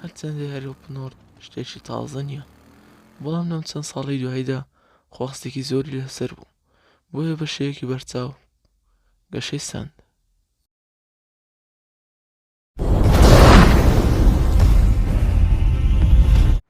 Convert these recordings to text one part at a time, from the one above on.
هەرچەندە یاری ئۆپن وۆرڵد شتێکی تازە نییە بەڵام لەم چەند ساڵی دواییدا خواستێکی زۆری لەسەر بوو بۆیە بە شێوەیەکی بەرچاو گەشەی سەند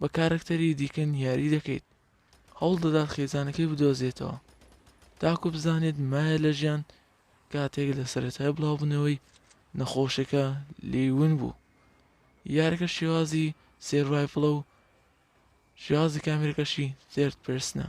بە کارەکتەری دیکە نیاری دەکەیت هەوڵ دەدات خێزانەکەی بدۆزێتەوە تاکو بزانێت مایە لە ژیان کاتێک لە سەرەتای بڵاوبوونەوەی نەخۆشەکە لێون بوو یارەکە شێوازی سێرڤایفڵە و شێوازی کامێرەکەشی زێرت پرسنە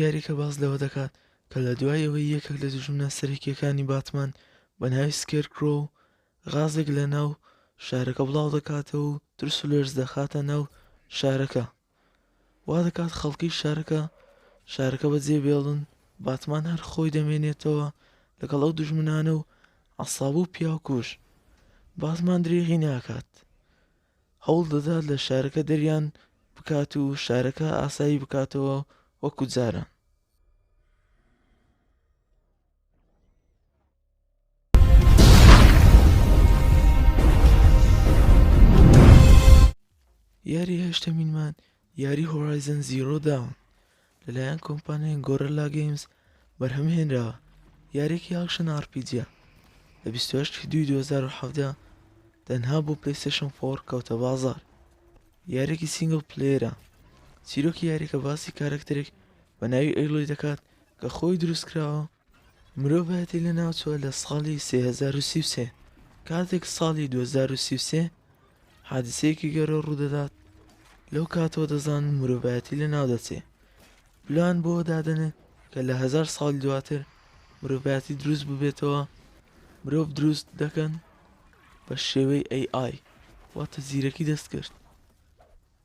یارییەکە باس لەوە دەکات کە لە دوای ئەوەی یەکێک لە دوژمنە سەرەکییەکانی باتمان بە ناوی سکێرکرۆو غازێک لە ناو شارەکە بڵاودەکاتەوە و ترس و لەرز دەخاتە ناو شارەکە وا دەکات خەڵکی شارەکە شارەکە بەجێ بێڵن باتمان هەر خۆی دەمێنێتەوە لەگەڵ ئەو دوژمنانە و عساب و پیاکوش باتمان درێغی ناکات هەوڵ دەدات لە شارەکە دەریان بکات و شارەکە ئاسایی بکاتەوە وەکو جاران. یاری هەشتەمینمان یاری هۆرایزن زیرۆ داون لەلایەن کۆمپانیای گۆرلا گەیمز بەرهەم هێنراوە یاریکی ئاکشن ئارپیجە لە 28 دوی 2017 تەنها بۆ پلیسشن فۆر کەوتە بازار یارێکی سینگل پلێرە چیرۆکی یاریەکە باسی کارەکترێک بە ناوی ئەیلۆی دەکات کە خۆی دروستکراوە مرۆڤایەتی لەناوچووە لە ساڵی سێ هەزار و سی و سێ کاتێک ساڵی دوو هەزار و سی و سێ حادسەیەکی گەرۆ ڕوودەدات لەو کاتەوە دەزانن مرۆڤایەتی لە ناو دەچێ پلان بۆ دادەنێت کە لە هزار ساڵ دواتر مرۆڤایەتی دروست ببێتەوە مرۆڤ دروست دەکەن بە شێوەی AI واتە زیرەکی دەستکرد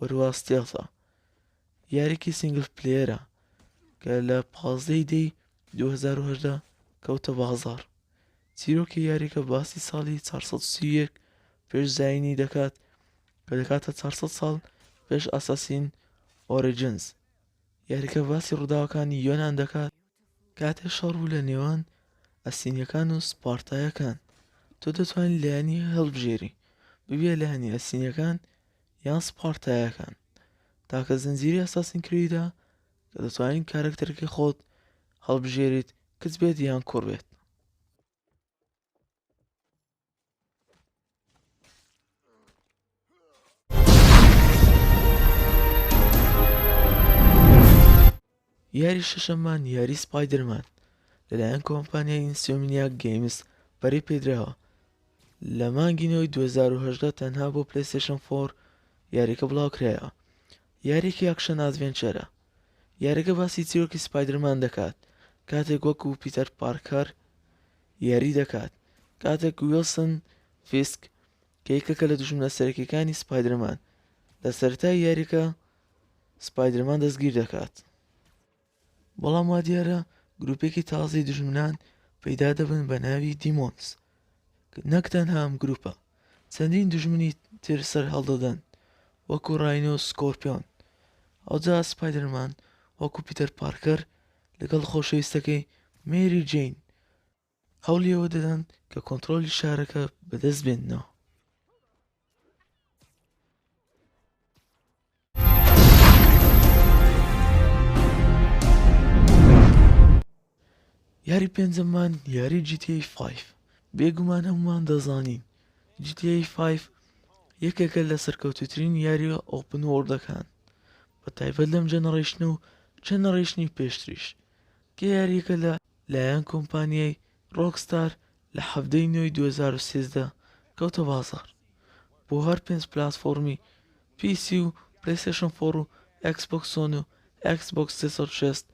ورواستێڵا، یاریکی سینگل پلەیەرە کە لە پازدەی دەی 2010 کەوتە بازار چیرۆکی یاریکە باسی ساڵی 431 پێش زینی دەکات کە دەکاتە 400 ساڵ پێش ئاساسین ئۆریجنز یاریکە باسی ڕووداوەکانی یۆناان دەکات کاتێ شەڕ و لە نێوان ئەسینیەکان و سپارتایەکان تۆ دەتوانین لایەنی هەڵبژێری ببیە لایەنی ئەسینیەکان یان سپارتایەکان تاکە زنجیرەی ئەساسین کریدە کە دەتوانین کارەکتەرەکەی خۆت هەڵبژێریت کچ بێت یان کوڕ بێت یاری شەشەممان یاری سپایدەرمان لەلایەن کۆمپانیای ئینسۆمنیا گەیمز بەری پێدراوە لە مانگی نەوەی 2010 تەنها بۆ پلەیستێشن فۆر یاریەکە بڵاوکرایەوە یاریکی یاکشەن ئادڤێنچەرە یاریگە باسی چیرۆکی سپایدرمان دەکات کاتێک وەکو پیتەر پارکەر یاری دەکات کاتێک ویلسن فیسک کە یەکێکە لە دژمنە سەرەکیەکانی سپایدرمان لە سەرای یاریەکە سپایدەرمان دەستگیر دەکات بەڵام وا دیارە گروپێکی تازەی دژمنان پەیدا دەبن بە ناوی دیمۆنس نەک تەنها ئەم گروپە چەندین دژمنی تر سەر هەڵدەدەن وەکو ڕاینۆ سکۆرپیۆن ئەوجا سپایدەرمان وەکو پیتەر پارکەر لەگەڵ خۆشەویستەکەی مێری جین هەوڵی ئەوە دەدەن کە کۆنتترۆلی شارەکە بەدەست بێننەوە یاری پێنجەمان یاری GTA 5 بێگومان هەمومان دەزانین GTA 5 یەکێکە لە سەرکەوتوترین یاری ئۆپن وۆردەکان بە تایبەت لەم جەنەڕیشن و چەنەڕیشنی پێشتریش کە یاریەکە لە لایەن کۆمپانیای ڕۆکستار لە حەڤدە ی نۆی دوو هەزار و سێزدە کەوتە بازاڕ بۆ هەر پێنج پلاتفۆڕمی پی سی و پلەیستێشن فۆڕ و ئێکس بۆکس سۆن و ئێکس بۆکس سێ سەد و شەست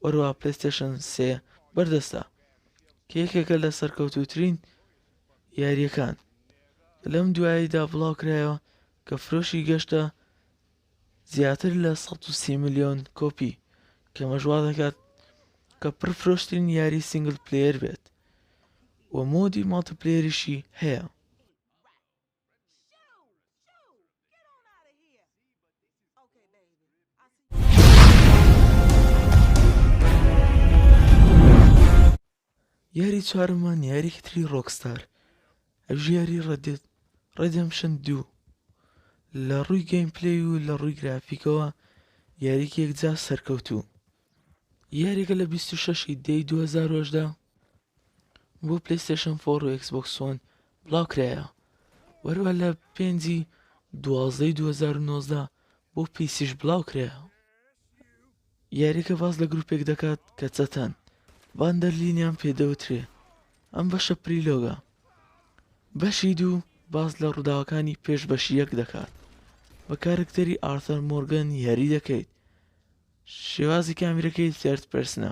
وەروەها پلەیستێشن سێ بەردەستە کە یەکێکە لە سەرکەوتووترین یاریەکان لەم دواییدا بڵاوکرایەوە کە فرۆشی گەشتە زیاتر لە سەد و سی ملیۆن کۆپی کەمەش وا دەکات کە پڕفرۆشترین یاری سینگل پلەیەر بێت و مۆدی ماڵتپلێریشی هەیە یاری چوارەمان یاریکی تری ڕۆکستار ئەوش یاری ڕەدێت ڕێدمشن دوو لە ڕووی گەیم پلی و لە ڕووی گرافیکەوە یاریکێک جا سەرکەوتوو یاریکە لە 26 دەی 2010 بۆ پلیستشن فۆر و ئەکسبکسۆن بڵاوکرایە وەروە لە پێنجی دوازدەی 2009دا بۆ پیسیش بڵاو کرایە یاریەکە باس لە گروپێک دەکات کە چەتەن باندەرلینیان پێدەوترێ ئەم بەشە پریلۆگە بەشی دوو باس لە ڕووداوەکانی پێش بەشی یەک دەکات بە کارکتەری ئارثەر مۆرگن یاری دەکەیت شێوازی کامیرەکەی سرد پرسنە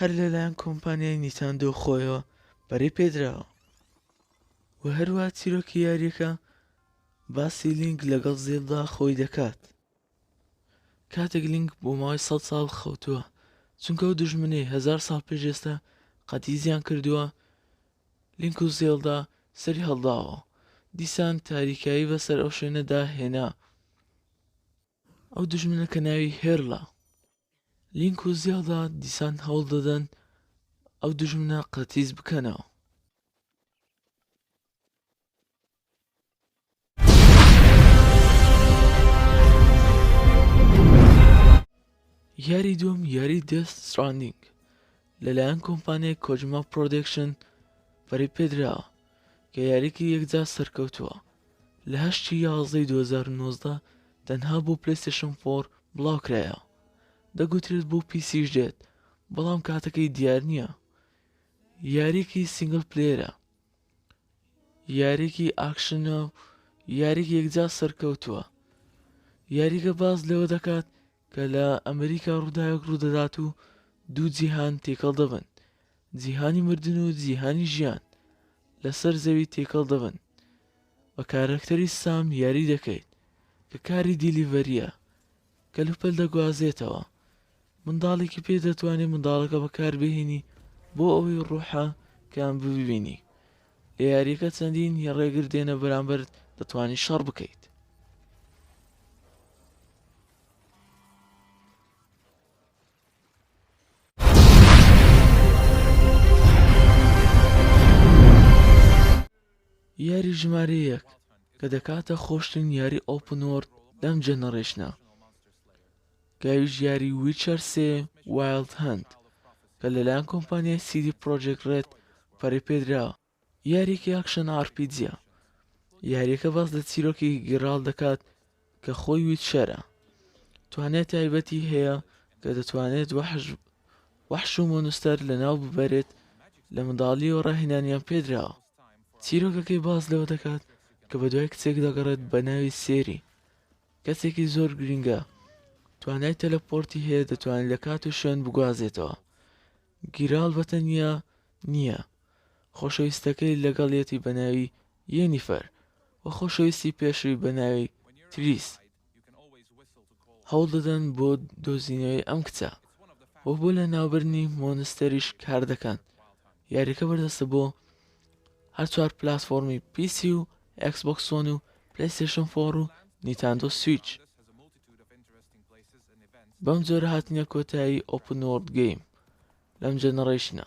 هەر لەلایەن کۆمپانیای نیتاندۆ خۆیەوە پەرەی پێدراوە و هەروە چیرۆکی یاریەکە باسی لینک لەگەڵ زێلدا خۆی دەکات کاتێک لینک بۆ ماوەی سە ساڵ خەوتووە چونکە و دژمنەی هزار ساڵ پێش ئێستا قەتیزیان کردووە لینک و زێلدا سەری هەڵداوە دیسان تاریکایی بەسەر ئەو شوێنەدا هێنا ئەو دوژمنە کە ناوی هێرلە لینک و زیادا دیسان هەوڵ دەدەن ئەو دوژمنە قەتیس بکەنەوە یاری دوم یاری دەست سراندینگ لەلایەن کۆمپانیای کۆجما پرۆدکشن پەری پێدراوە کە یاریکە یەکجار سەرکەوتووە لە هەشتی یازدەی 2019 تەنها بۆ پلەیستێشن فۆر بڵاوکرایەوە دەگوترێت بۆ پیسیش دێت بەڵام کاتەکەی دیار نییە یاریکی سنگل پلێرە یاریکی ئاکشنە و یاریک یەکجار سەرکەوتووە یاریگە باز لەوە دەکات کە لە ئەمریکا ڕووداوێک ڕوودەدات و دوو جیهان تێکەڵ دەبن جیهانی مردن و جیهانی ژیان لەسەر زەوی تێکەڵ دەبن بە کارەکتەری سام یاری دەکەیت کە کاری دیلیڤەریە کەلوپەل دەگوازێتەوە منداڵێکی پێ دەتوانێت منداڵەکە بەکاربهێنی بۆ ئەوەی ڕوحە کان ببینی لە یاریەکە چەندین ی ڕێگر دێنە بەرامبەرت دەتوانی شەڕ بکەیت. یاری ژمارە یەک کە دەکاتە خۆشترین یاری ئۆپنۆرد لەم جەنەڕێشنە کاویژیاری ویچەر سێ وایڵد هەنت کە لەلایەن کۆمپانیای سیدی پرۆجێکت ڕێد پەرەی پێدراوە یاریەکی ئاکشەن ئارپیجە یاریەکە باس لە چیرۆکی گیڕاڵ دەکات کە خۆی ویچەرە توانای تایبەتی هەیە کە دەتوانێت وەحش وەحش و مۆنستەر لە ناو ببەرێت لە منداڵی و ڕاهێنانیان پێدراوە چیرۆکەکەی باز لەوە دەکات کە بە دوای کچێک دەگەڕێت بە ناوی سێری کەسێکی زۆر گرینگە توانای تەلەپۆرتی هەیە دەتوانێت لە کات و شوێن بگوازێتەوە گیراڵ بەتەنیا نییە خۆشەویستەکەی لەگەڵیەتی بەناوی یەنیفەر و خۆشەویستی پێشوی بەناوی تریس هەوڵ دەدەن بۆ دۆزینەوەی ئەم کچە و بۆ لە ناوبرنی مۆنستەریش کار دەکەن یاریەکە بەردەستە بۆ هەر چوار پلاتفۆرمی پی سی و ئێکس بۆکس سۆنی و پلەیستێشن فۆڕ و نیتاندۆ سویچ بەم جۆرە هاتنە کۆتایی ئۆپن وۆرد گەیم لەم جەنەڕیشنە